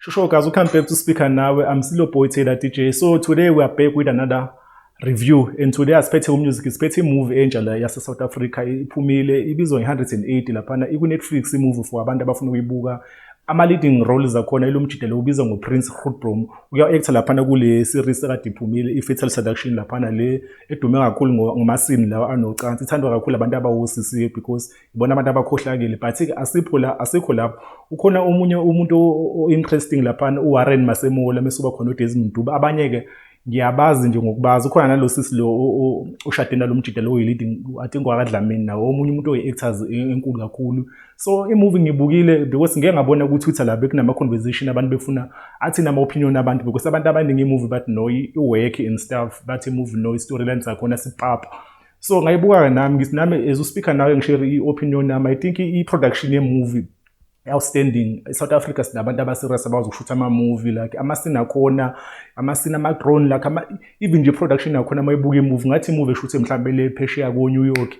Sure, guys, we come back to speak and now I'm still a boy Taylor DJ. So today we are back with another review and today asiphethe umusic siphethe imovie entsha la yase South Africa iphumile ibizwa nge-180 laphana iku-Netflix imovie for abantu abafuna ukuyibuka ama-leading roles akhona ilomjida lo ubiza ngoprince rudbrom uya-actor laphana kule series ekade iphumile i-fatal seduction laphana le edume kakhulu ngomasini lawa anocansi ithandwa kakhulu abantu abawosisiye because ibona abantu abakhohlakele but-ke asipho la asikho lapho ukhona omunye umuntu o-interesting laphana uwarren masemola mesuba khona udesmond duba abanye-ke ngiyabazi nje ngokubazi ukhona nalo sisi lo ushade nalo mjida lo leading i think wakadlamini nawo omunye umuntu oyi-actors e, enkulu kakhulu so imovie ngibukile because ngeke ngabona ku-twitter la bekunama-conversation abantu befuna athini ama-opinion abantu because abantu abaningi imovie bathi no i-work and stuff bathi imovie no i-storyline zakhona sipapa so ngayibuka-ke nami ngithi nami as uspeaker nawe ngishere i-opinion yami i think i-production yemovie outstanding eSouth Africa sinabantu abaserious abazi ukushutha ama-movie like amasini akhona amasini ama-drone like ama, even nje production yakhona uma ibuka imovie ngathi imovie eshuthe mhlawumbe le phesheya ko-new york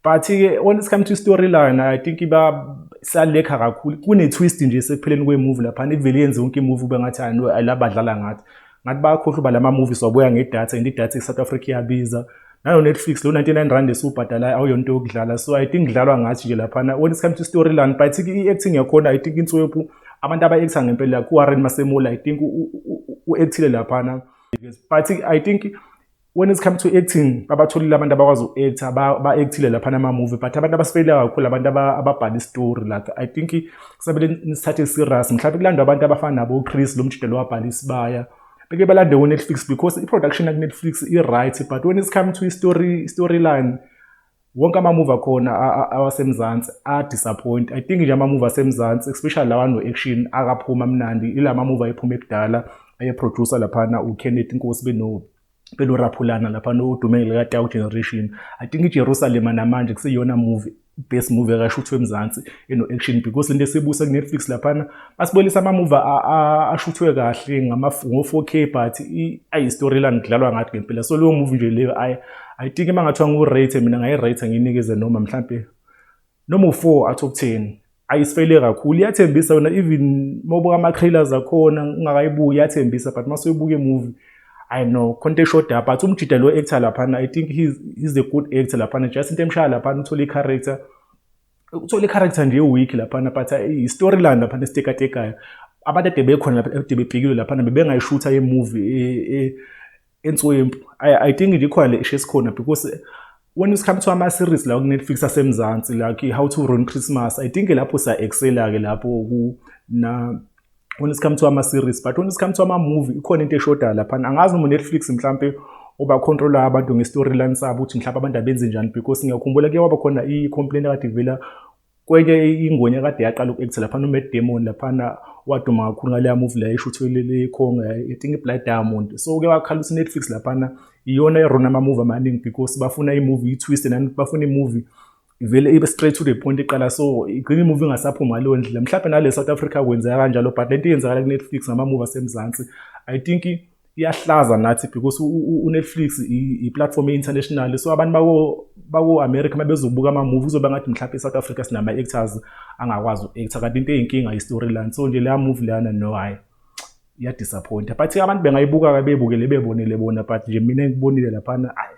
but-ke when it come to storyline i think iba salekha kakhulu kune-twist nje sekupheleni kwemovie laphana ivele yenze yonke imovie ube ngathi alabadlala ngathi ngathi bayakhohluba lama movies wabuya ngedata and idata eSouth Africa iyabiza nalo Netflix lo 99 rand esubhadalayo awuyonto yokudlala so i think kudlalwa ngathi nje laphana when it comes to storyline but i acting yakhona i think inswephu abantu aba actor ngempela ku Warren Masemola i think u actile laphana but i think when it's come to acting babatholile abantu abakwazi uku-acta ba-actile lapha nama-movie but abantu abasifeyila kakhulu abantu ababhala istory like i think kusabele nisithathe serious mhlawumbe kulandwa abantu abafana nabo-chris lo mjida lo wabhala isibaya beke balande ku-netflix because i-production yaku-netflix i-right but when it's come to i-story storyline wonke ama-move akhona awasemzansi a-disappoint i think nje ama-move asemzansi especially lawa no-action akaphumi amnandi ila ma-move ayephuma ekudala ayeproducer laphana ukenneth inkosi beno beloraphulana lapha nodumenge likatau generation i think ijerusalema namanje kuseyiyona movie best movie ekashuthwe emzansi eno-action because lento esibuse kunetflix laphana asibonisa amamuva ashuthwe kahle ngo-4k but ayi-storyline kudlalwa ngathi ngempela so leyo muvi nje leyo i think uma ngathiwa ngiwu-rate mina ngayi-rate ngiyinikeze noma mhlampe noma u-four out of ten ayisifele kakhulu iyathembisa yona even mobuka ama-trailers akhona ungakayibuki iyathembisa but mase uyibuka imovie i know khonto eshoda but umjida lo actor laphana i think he's, he's a good actor laphana just into emshaya laphana uthole i-character uthole character nje week laphana but eh, i-storyline laphana esitekatekayo abantu ade bekhona lapha ade bebhekile laphana bebengayishutha yemovie eh, eh, entswempu i think nje ikhona le ishe esikhona because when it comes to ama-series la kunetflix asemzansi like how to run christmas i think lapho sa-excela-ke lapho when it comes to ama series but when it comes to ama movie ikhona into eshoda lapha angazi noma Netflix mhlambe oba control abantu nge storyline sabo ukuthi mhlawumbe abantu abenze njani because ngiyakhumbula ke waba khona i complaint kade ivela kwenye ingwenya kade yaqala uku-act lapha no Matt Damon laphana waduma kakhulu ngaleya movie la eshuthwe le khonga i think i Blood Diamond so ke wakhala ukuthi Netflix laphana iyona erona ama movie amaningi because bafuna i movie i twist nani bafuna i movie ivele ibe straight to the point iqala so igcina imuvi ingasaphuma ngaleyo ndlela mhlawumbe nale south africa kwenzeka kanjalo but lento iyenzakala kunetflix ngamamuvi asemzansi i think iyahlaza nathi because unetflix iplatform e-international so abantu bako-america uma bezobuka amamuvi kuzoba ngathi mhlawumbe e-south africa sinama-actors angakwazi uku-acta kanti into eyinkinga yi-storyline so nje leya muvi leyana no hhayi iyadisappointa but abantu bengayibuka-ke bebukele bebonele bona but nje mina ngikubonile laphana ayi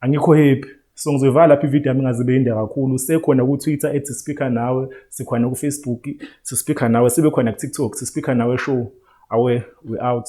Angikho happy. So ngizoyivala lapha ivideo yami ingazibe yinde kakhulu. Sekhona ku-Twitter ethi speaker nawe, sikhona ku-Facebook sispeaker nawe, sibe khona ku-TikTok sispeaker nawe show. Awe we out.